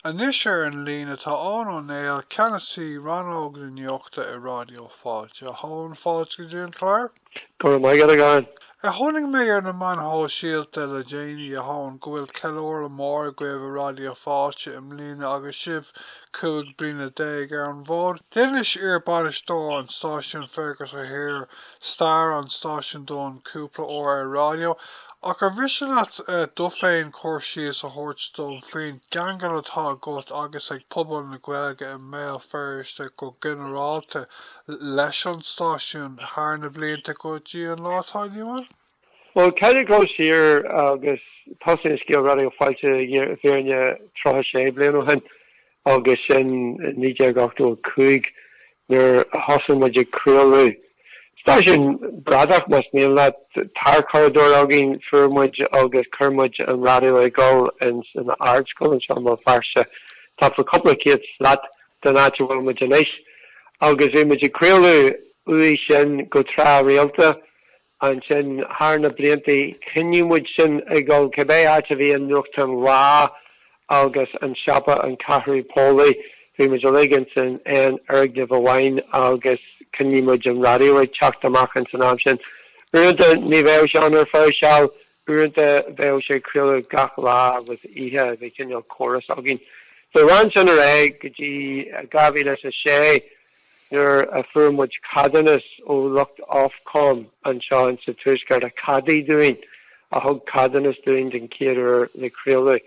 Anois ar an líne tá Eoghan Ó Néill, Ceannasaí Rannóg na Nuachta i Ráidió Fáilte. A Eoghain, fáilte go dtí an clár. Go raibh maith agat, a Eoghain. Tháinig mé ar na meáin shóisialta le déanaí, a Eoghain, go bhfuil ceiliúradh mór agaibh i Raidió Fáilte i mbliana agus sibh cúig bliana déag ar an bhfód? D'inis iar-bainisteoir an stáisiúin, Fergus O'Hare, stair an stáisiúin dom cúpla uair ar raidió, ach ar mhiste leat tú féin cur síos a thabhairt dom faoin gceangal atá agat agus ag pobal na Gaeilge i mBéal Feirste go ginearálta leis an stáisiún thar na blianta go dtí an lá atá inniu ann? Bhuel, caithfidh mé dul siar agus tosaíonn scéal Raidió Fáilte i bhfírinne 36 bliain ó shin, agus sin i 1985 nuair a thosaigh muid ag craoladh. Stáisiún bradach, más mian leat, tarchuradóir againn, fuair muid agus chuir muid an raidió ag dul ins an Ardscoil anseo i mBéal Feirste, tá, faoi cúpla céad slat den áit a bhfuil muid anois, agus bhí muid ag craoladh uaidh sin go tráthrialta. Ansin, thar na blianta, choinnigh muid sin ag dul, cibé áit a bhí an nuachtán Lá agus an siopa An Ceathrú Póilí, bhí muid uilig ins an aon fhoirgneamh amháin agus choinnigh muid an raidió ag teacht amach ins an am sin. Uaireanta, ní bheadh sé ann ar feadh seal, uaireanta, bheadh sé ag craoladh gach lá agus oíche, bhí cineál córas againn. So, lean sin ar aghaidh go dtí 2006. Nuair a fuair muid ceadúnas ó lucht Ofcom anseo in sa Tuaisceart a cheadaigh dúinn, a thug ceadúnas dúinn den chéad uair le craoladh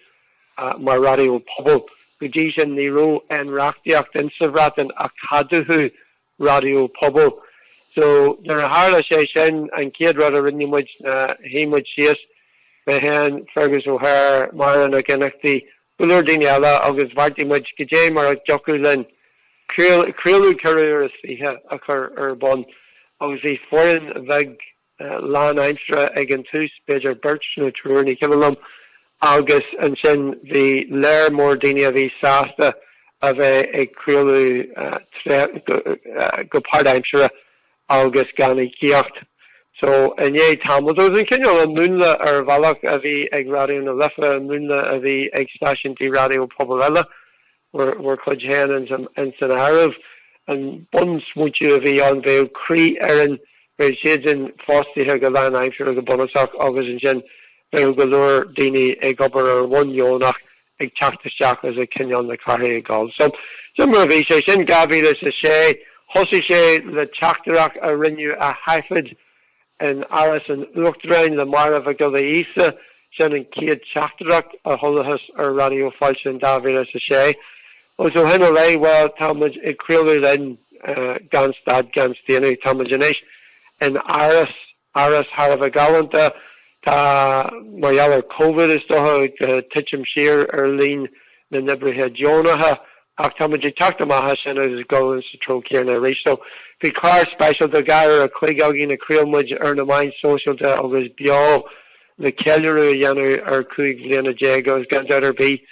mar raidió pobail, go dtí sin ní raibh aon reachtaíocht in sa Bhreatain a cheadódh raidió pobail. So, nuair a tharla sé sin, an chéad rud a rinne muid ná shuigh muid síos, mé féin, Fergus O'Hare, Máire Nic Fhionnachtaigh go leor daoine eile agus bheartaigh muid, cad é mar a thiocfadh linn, craoladh ceithre uair is fiche a chur ar bun agus bhí foireann bheag lánaimseartha ag an tús, b'fhéidir beirt nó triúr, ní cuimhin liom, agus ansin bhí léar mór daoine a bhí sásta a bheith ag craoladh go páirtaimseartha agus gan íocaíocht. So, i ndiaidh tamall, ba é sin cineál an múnla ar bhealach a bhí ag Raidió na Life, an múnla a bhí ag stáisiúintí raidió pobail eile, bhur, bhur cuid féin ins an, in san áireamh. An bunsmaointiú a bhí ann, bheadh croífhoireann, bheadh siad sin fostaithe go lánaimseartha go bunúsach agus ansin bheadh go leor daoine ag obair ar bhonn dheonach ag teacht isteach is ag coinneáil na cathrach ag gabháil. So, sin mar a bhí sé. Sin 2006. Thosaigh sé le teachtaireacht a rinneadh a thaifead in Áras an Uachtaráin le Máire Mhic Giolla Íosa. Sin an chéad teachtaireacht a chualathas ar Raidió Fáilte in 2006. Agus ó shin i leith, bhuel, tá muid ag craoladh linn gan stad gan staonadh. Tá muid anois in Áras Áras thar a bheith galánta, tá, mar gheall ar Covid is dócha, titim siar ar líon na n-oibrithe deonacha, ach táimid ag teacht amach as sin agus ag dul ins an treo céanna arís. So, bhí clár speisialta dhá uair a chloig againn a chraol muid ar na meáin sóisialta agus beo, le ceiliúradh a dhéanamh ar chúig bhliana déag agus gan dabht ar bith,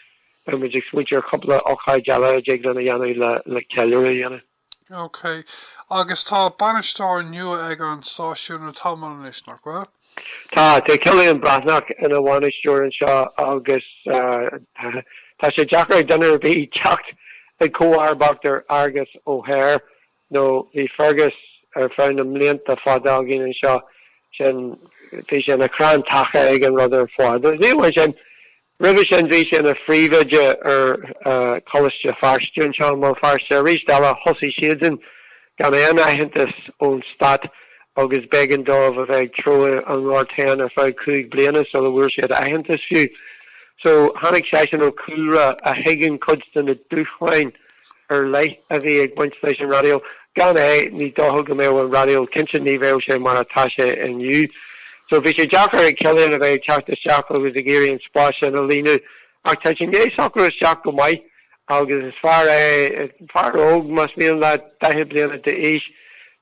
beimid ag smaointiú ar chúpla ocáid eile a dtig linn a dhéanamh le ceiliúradh a dhéanamh. OK. Agus tá bainisteoir nua ag an stáisiún le tamall anois, nach bhfuil? Tá. Tá Cillian Breathnach ina bhainisteoir anseo agus tá sé deacair ag duine ar bith teacht ag comharbacht ar Fhergus Ó hÍr nó bhí Fergus ar feadh na mblianta fada againn anseo, sin, bhí sé ina chrann taca ag an rud ar fad. Ach níl ansin, Roimhe sin bhí sé ina phríomhoide ar Choláiste Feirste anseo i mBéal Feirste. Arís eile thosaigh siadsan gan aon aitheantas ón stát agus b'éigean dóibh a bheith ag treabhadh an ghoirt féin ar feadh cúig bliana sula bhfuair siad aitheantas fiú. So tháinig seisean ó chúlra a thuigeann cuid de na dúshláin ar leith a bhí ag baint le stáisiún raidió. Gan é, ní dócha go mbeadh an raidió, cinnte ní bheadh sé mar atá sé inniu. So, bhí sé deacair ag Cillian a bheith ag teacht isteach agus ag iarraidh an spás sin a líonadh. Ach tá sé i ndiaidh socrú isteach go maith agus is fear é, fear óg, más mian leat, daichead bliana d'aois.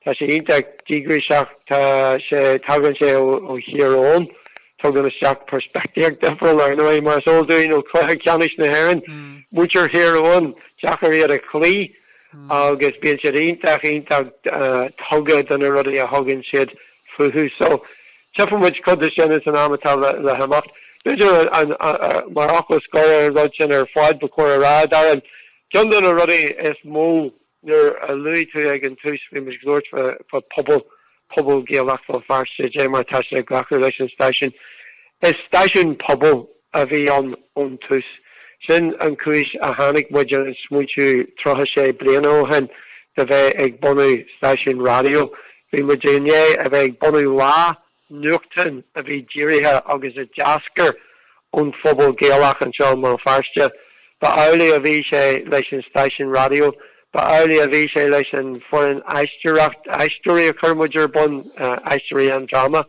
Tá sé iontach díograiseach, tá sé, tagann sé ó Thír Eoghain. Tugann sé isteach peirspictíocht difriúil, ar ndóigh, mar is eol dúinn ó chluiche ceannais na hÉireann. Muintir Thír Eoghain deacair iad a chloí agus bíonn siad iontach, iontach tugtha do na rudaí a thugann siad fúthu. So, tchífidh muid cuid de sin ins an am atá le theacht. B'fhéidir, mar fhocal scoir ar an rud sin ar fad, ba chóir a rá, Darren, ceann de na rudaí is mó, Nuair a luaigh tú ag an tús bhí muid ag labhairt fá pobal, pobal Gaelach Bhéal Feirste, cad é mar tá sé ag glacadh leis an stáisiún. Is stáisiún pobail a bhí ann ón tús. Sin an cúis a tháinig muid ar an smaointiú 36 bliana ó shin de bheith ag bunú stáisiún raidió. Bhí muid i ndiaidh a bheith ag bunú Lá nuachtán a bhí dírithe agus a d'eascair ón phobal Gaelach anseo i mBéal Feirste. Ba amhlaidh a bhí sé leis an stáisiún raidió, ba amhlaidh a bhí sé leis an bhfoireann aisteoireacht, aisteoirí a chuir muid ar bun, Aisteoirí Aon Dráma,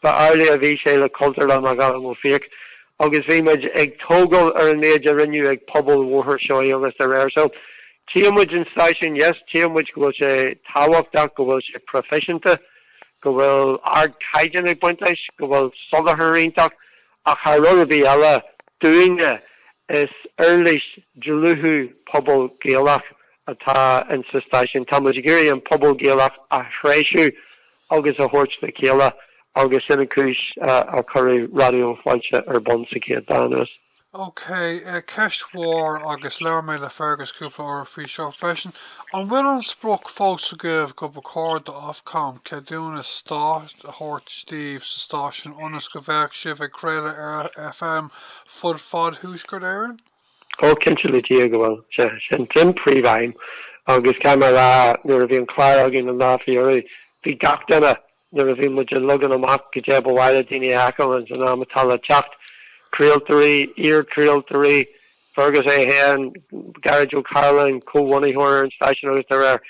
ba amhlaidh a bhí sé le Cultúrlann McAdam Ó Fiaich agus bhí muid ag tógáil ar an méid a rinneadh ag pobal Bhóthar Seoighe agus dá réir. So, tchí muid an stáisiún, yes, tchí muid go bhfuil sé tábhachtach, go bhfuil sé proifisiúnta, go bhfuil ardchaighdeán ag baint leis, go bhfuil soláthar iontach, ach thar rud ar bith eile, dúinne, is uirlis dlúthú pobal Gaelach atá in sa stáisiún. Tá muid ag iarraidh an pobal Gaelach a threisiú agus a thabhairt le chéile agus sin an cúis a cuireadh Raidió Fáilte ar bun sa chéad dá anuas. OK, ceist mhór, agus labhair mé le Fergus cúpla uair faoi seo freisin. An bhfuil an sprioc fós agaibh go ba chóir do Ofcom ceadúnas stáit a thabhairt daoibh sa stáisiún ionas go bheadh sibh ag craoladh ar FM fud fad Thuaisceart Éireann? Ó, cinnte le Dia go bhfuil. Sea, sin sin príomhaidhm. Agus caithfidh mé a rá, nuair a bhí an clár againn an lá faoi dheireadh, bhí gach duine Nuair a bhí muid ag leagan amach cad é ba mhaith le daoine a fheiceáil san am atá le teacht, craoltóirí, iarchraoltóirí, Fergus é féin, Gearóid Ó Cairealláin, comhbhunaitheoir ar an stáisiún agus dá réir,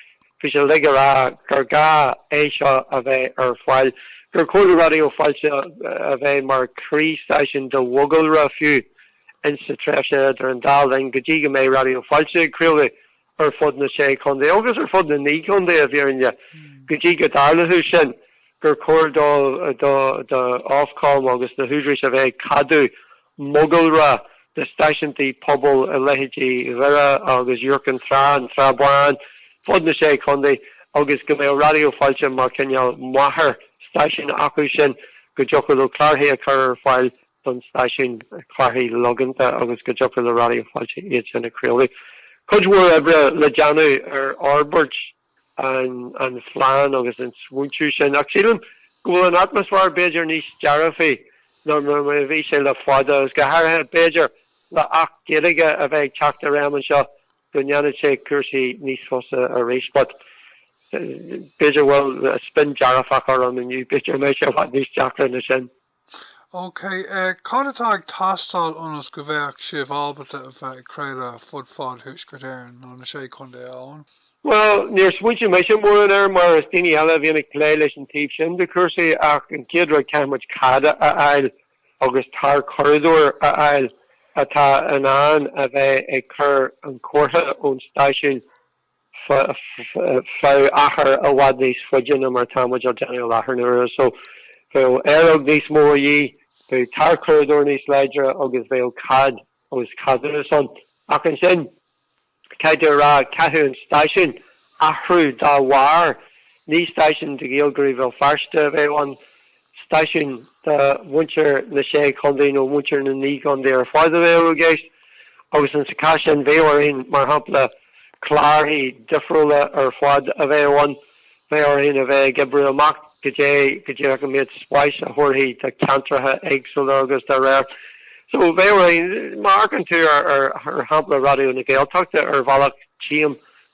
bhí siad uilig ag rá gur gá é seo a bheith ar fáil, gur chóir do Raidió Fáilte a bheith mar chroí-stáisiún do mhogalra fiú ins sa tréimhse idir an dá linn go dtí go mbeidh Raidió Fáilte ag craoladh ar fud na Sé Chontae agus ar fud na Naoi gContae, i bhfírinne, go dtí go dtarlódh sin, gur chóir do do Ofcom agus na húdaráis a bheith ag ceadú mogalra de stáisiúntaí pobail i leithéidí Dhoire agus Iúr Chinn Trá, an tSrath Bán, fud na Sé Chontae agus go mbeadh Raidió Fáilte mar chineál máthair stáisiún acu sin, go dtiocfadh leo clárthaí a chur ar fáil don stáisiún clárthaí logánta agus go dtiocfadh le Raidió Fáilte iad sin a chraoladh. Cuid mhór oibre le déanamh ar fhorbairt an phlean agus an smaointiú sin ach sílim go bhfuil an atmaisfeár b'fhéidir níos dearfaí ná mar a bhí sé le fada agus go háirithe b'fhéidir le Acht Gaeilge a bheith ag teacht i réim anseo go ndéanfadh sé cúrsaí níos fusa arís but b'fhéidir bhfuil spin dearfach orm inniu b'fhéidir mbeidh sé i bhfad níos deacra ná sin. OK, cad atá ag teastáil ionas go bheadh sibh ábalta a bheith ag craoladh fud fad Thuaisceart Éireann, nó na Sé Chontae, a Eoghain? Bhuel, níor smaointigh mise mórán air, mar is daoine eile a bhíonn ag plé leis an taobh sin de chúrsaí, ach an chéad rud caithfidh muid cead a fháil agus tarchuradóir a fháil atá in ann a bheith ag cur an chomhartha ón stáisiún. bheadh achar i bhfad níos faide ná mar atá muid á déanamh i láthair na huaire so bheadh aeróg níos mó a dhíth, bheadh tarchuradóir níos láidre agus bheadh cead agus ceadúnas ann. Ach ansin, caithfidh tú a rá, chaithfeadh an stáisiún athrú dá bharr, ní stáisiún do Ghaeilgeoirí Bhéal Feirste a bheadh ann, stáisiún do mhuintir na sé chontae nó mhuintir na naoi gcontae ar fad a bheadh i gceist, agus insa chás sin, bheadh orainn, mar shampla, cláracha difriúla ar fad a bheadh ann, bheadh orainn a bheith ag oibriú amach goidé go díreach an méid spáis a thabharfaí do cheantracha éagsúla agus dá réir. So, bheadh orainn, má amharcann tú ar shampla Raidió na Gaeltachta ar bhealach, tchím,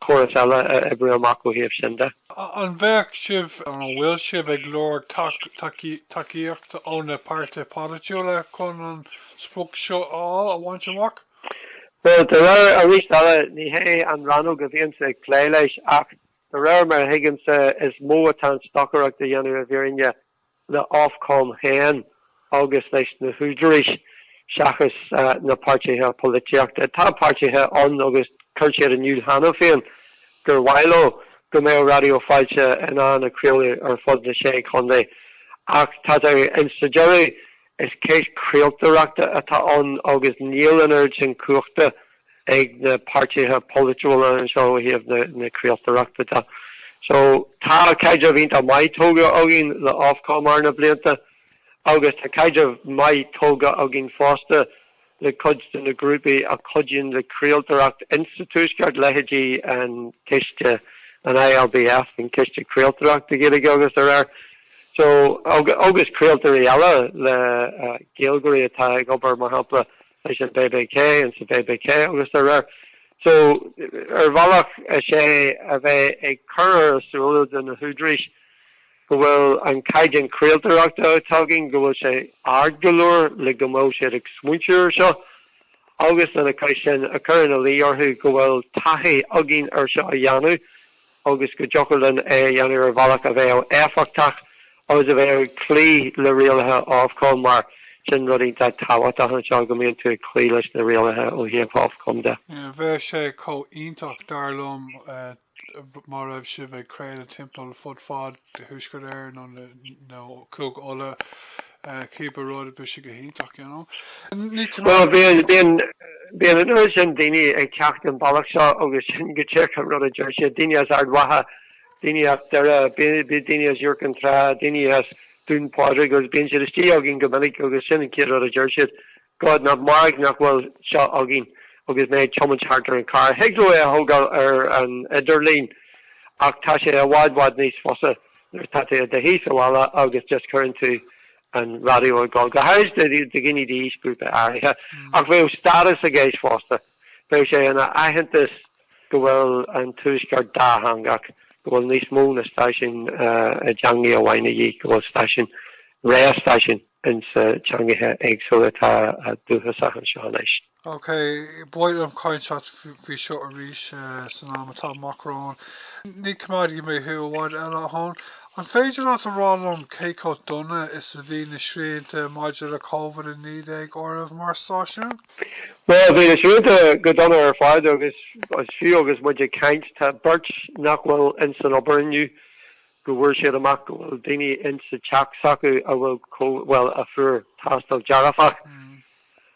córas eile a oibriú amach ó thaobh sin de. An bhféadfadh sibh, nó an bhfuil sibh, ag lorg tacaíochta ó na páirtithe polaitiúla chun an sprioc seo a fháil, a bhaint amach? Bhuel, de réir, arís eile, ní hé an rannóg a bhíonnse ag plé leis, ach de réir mar a thuigimse, is mó atá an stocaireacht á déanamh i bhfírinne le Ofcom féin agus leis na húdaráis, seachas na páirtithe polaitíochta. Tá páirtithe ann, agus chuir siad in iúl cheana féin gur mhaith leo go mbeadh Raidió Fáilte in ann craoladh ar fud na Sé Chontae, ach tá insa deireadh Is ceist chraoltóireachta atá ann agus níl an oiread sin cumhachta ag na páirtithe polaitiúla anseo ó thaobh na craoltóireachta de. So, tá caidreamh iontach maith tógha againn le Ofcom thar na blianta agus tá caidreamh maith tógha againn fosta le cuid de na grúpaí a chuidíonn le craoltóireacht insa Tuaisceart, leithéidí an Ciste, an ILBF, an Ciste Craoltóireachta Gaeilge agus dá réir, so, agus craoltóirí eile le Gaeilgeoirí atá ag obair, mar shampla, leis an BBK, insa BBK agus dá réir. So, ar bhealach, is é a bheith ag cur ar a súile do na húdaráis, go bhfuil an caighdeán craoltóireachta atá againn, go bhfuil sé ard go leor le go mbeadh siad ag smaointiú ar seo, agus lena chois sin, a chur ina luí orthu go bhfuil taithí againn ar seo a dhéanamh agus go dtiocfadh linn é a dhéanamh ar bhealach a bheadh éifeachtach agus a bheadh ag cloí le rialacha Ofcom mar sin rud iontach tábhachtach anseo go mbíonn tú ag cloí leis na rialacha ó thaobh Ofcom de. Bheadh sé chomh iontach, dar liom, dá raibh sibh ag craoladh timpeall fud fad Thuaisceart Éireann nó nó Cúige Uladh eh cíbe rud bheadh sé go hiontach you know Bhuel bíonn bíonn bíonn an oiread sin daoine ag teacht an bealach seo agus sin go díreach an rud a deir siad, daoine as Ard Mhacha, daoine as Doire, bíonn bíonn daoine as Iúr Cinn Trá, daoine as Dún Pádraig agus bíonn siad istigh againn go minic agus sin an chéad rud a deir siad. God nach mairg nach bhfuil seo againn agus mé ag tiomáint thart ar an charr. Thig leo é a thógáil ar an idirlíon ach tá sé i bhfad bhfad níos fusa nuair atá tú i do shuí sa bhaile agus just cuireann tú an raidió ag dul, go háirid do dhaoine d'aois grúpa áirithe. Ach bheadh status i gceist fosta. Bheadh sé ina aitheantas go bhfuil an tuaisceart dátheangach, go bhfuil níos mó ná stáisiún i dteangaidh amháin a dhíth, go bhfuil stáisiún, réimse stáisiún, ins na teangaithe éagsúla atá dúchasach anseo anois. Ok, bhuel beidh mé ag caint leat faoi seo arís san am atá amach romhainn. Ní choimeádfaidh mé thú i bhfad eile, a Thóin. An féidir leat a rá liom cé chomh dona is a bhí na srianta maidir le Covid-19 oraibh mar stáisiún? Bhuel, bhí na srianta go dona ar fad agus fiú agus muid ag caint, tá beirt nach bhfuil insan obair inniu. go bhfuair siad amach go bhfuil daoine in sa teach s'acu a bhfuil ó, bhuel a fuair tástáil dearfach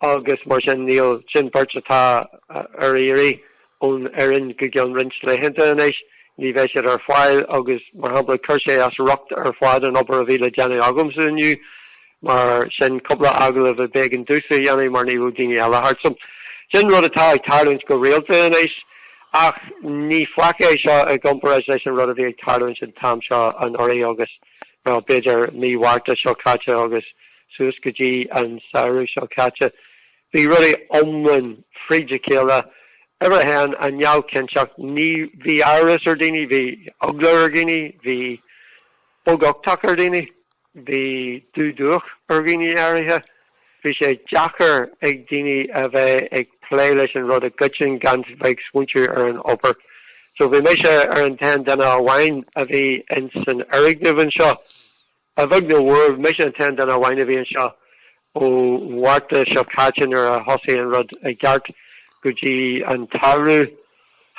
agus mar sin níl, sin beirt atá ar iarraidh ón fhoireann go gceann roinnt laethanta anois, ní bheidh siad ar fáil agus mar shampla chuir sé as riocht ar fad an obair a bhí le déanamh agamsa inniu. Mar sin, cúpla agallamh a b'éigean domhsa a dhéanamh mar ní raibh daoine eile thart. So, sin rud atá ag tarlúint go rialta anois, ach ní faic é seo i gcomparáid leis an rud a bhí ag tarlúint an t-am seo anuraidh agus, well, b'fhéidir mí Mhárta seo caite agus suas go dtí an samhradh seo caite. Bhí rudaí iomlán fríd a chéile, uimhir a haon, an neamhchinnteacht, ní, bhí amhras ar dhaoine, bhí eagla ar dhaoine, bhí beaguchtach ar dhaoine. Bhí dúluachair ar dhaoine áirithe. Bhí sé deacair ag daoine a bheith ag plé leis an rud i gcoitinn gan bheith ag smaointiú ar an obair. So bhí mise ar an t-aon duine amháin a bhí ins an fhoirgneamh anseo. A bheag nó mhór, mise an t-aon duine amháin a bhí anseo. ó Mhárta seo caite nuair a thosaigh an rud i gceart go dtí an tsamhradh.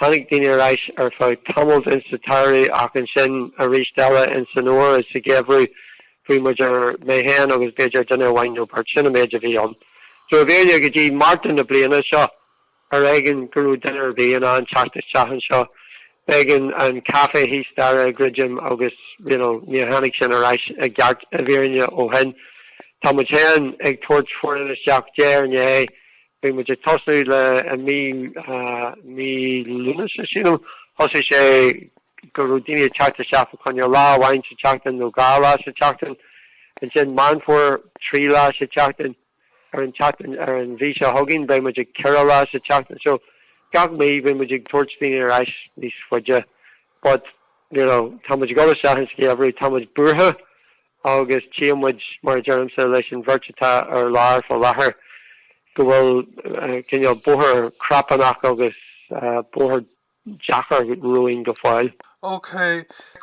Tháinig daoine ar ais ar feadh tamaill insa tsamhradh ach ansin aríst eile ins san fhomhar is sa gheimhreadh fágadh muid ar mé fhéin agus b'fhéidir duine amháin nó beirt. Sin an méid a bhí ann. So i bhfírinne go dtí Márta na bliana seo. Ar éigean go raibh duine ar bith in ann teacht isteach anseo. B'éigean an caife thíos staighre a dhruidim agus, you know, níor tháinig sin ar ais i gceart, i bhfírinne, ó shin. Tá muid féin ag tabhairt foireann isteach de réir a chéile. Bhí muid ag tosú le mí, mí Lúnasa, sílim. Thosaigh sé go raibh daoine ag teacht isteach fá choinne lá amháin sa tseachtain nó dhá lá sa tseachtain. Ansin Meán Fómhair, trí lá sa tseachtain. ar an tseachtain. Ar an mhí seo chugainn beidh muid ag ceithre lá sa tseachtain so gach mí beidh muid ag tabhairt daoine ar ais níos faide but you know tá muid ag dul isteach ins an gheimhreadh tá muid buartha agus tchíonn muid mar a deirimse leis an bheirt atá ar lár fá láthair go bhfuil cineál bóthar crapanach agus bóthar deacair dhúinn go fóill. OK,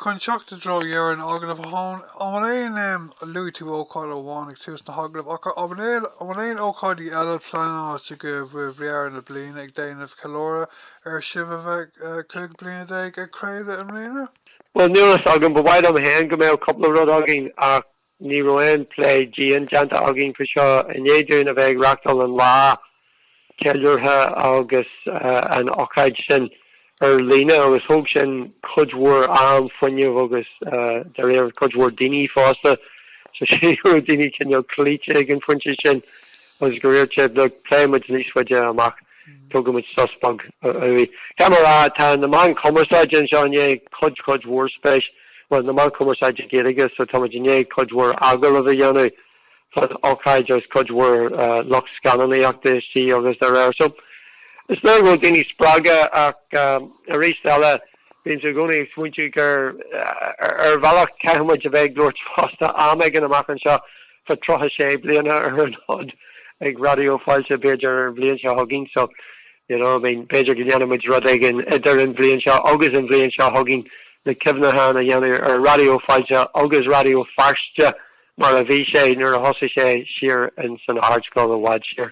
chun teacht i dtreo dheireadh an agallaimh, an bhfuil aon, em, luaigh tú ócáid amháin ag tús an agallaimh, ach an bhfuil aon, an bhfuil aon ócáidí eile pleanáilte go deireadh na bliana ag déanamh ceiliúradh ar sibh a bheith, eh, cúig bliana déag ag craoladh i mbliana? Bhuel, níl a fhios agam, ba mhaith liom féin go mbeadh cúpla rud againn ach. Ní raibh aon plé dian déanta againn faoi seo i ndiaidh dúinn a bheith ag reachtáil an lá ceiliúrtha agus an ócáid sin ar líne agus thóg sin cuid mhór am, fuinneamh agus d'oibir cuid mhór daoine fosta so tá daoine cineál cloíte ag an phointe sin. Agus go díreach sula bpléann muid níos faide amach tugann muid sos beag uaidh. Caithfidh mé a rá tá na meán cumarsáide anseo i ndiaidh cuid cuid mhór spéis bhuel na meán cumarsáide Gaeilge so tá muid i ndiaidh cuid mhór agallaimh a dhéanamh fán ócáid agus cuid mhór lucht scannánaíochta istigh agus araile so is léir go bhfuil daoine spreagtha ach arís eile bímse i gcónaí ag smaointiú gur ar bhealach caithfimid a bheith ag labhairt fosta am éigin amach anseo Fá 36 bliana ar an fhód ag Raidió Fáilte b'fhéidir ar an bhliain seo chugainn so you know I mean b'fhéidir go ndéanfaidh muid rud éigin idir an bhliain seo agus an bhliain seo chugainn le cuimhneachán a dhéanamh ar Raidió Fáilte agus Raidió Feirste mar a bhí sé nuair a thosaigh sé siar ins an Ardscoil i bhfad siar.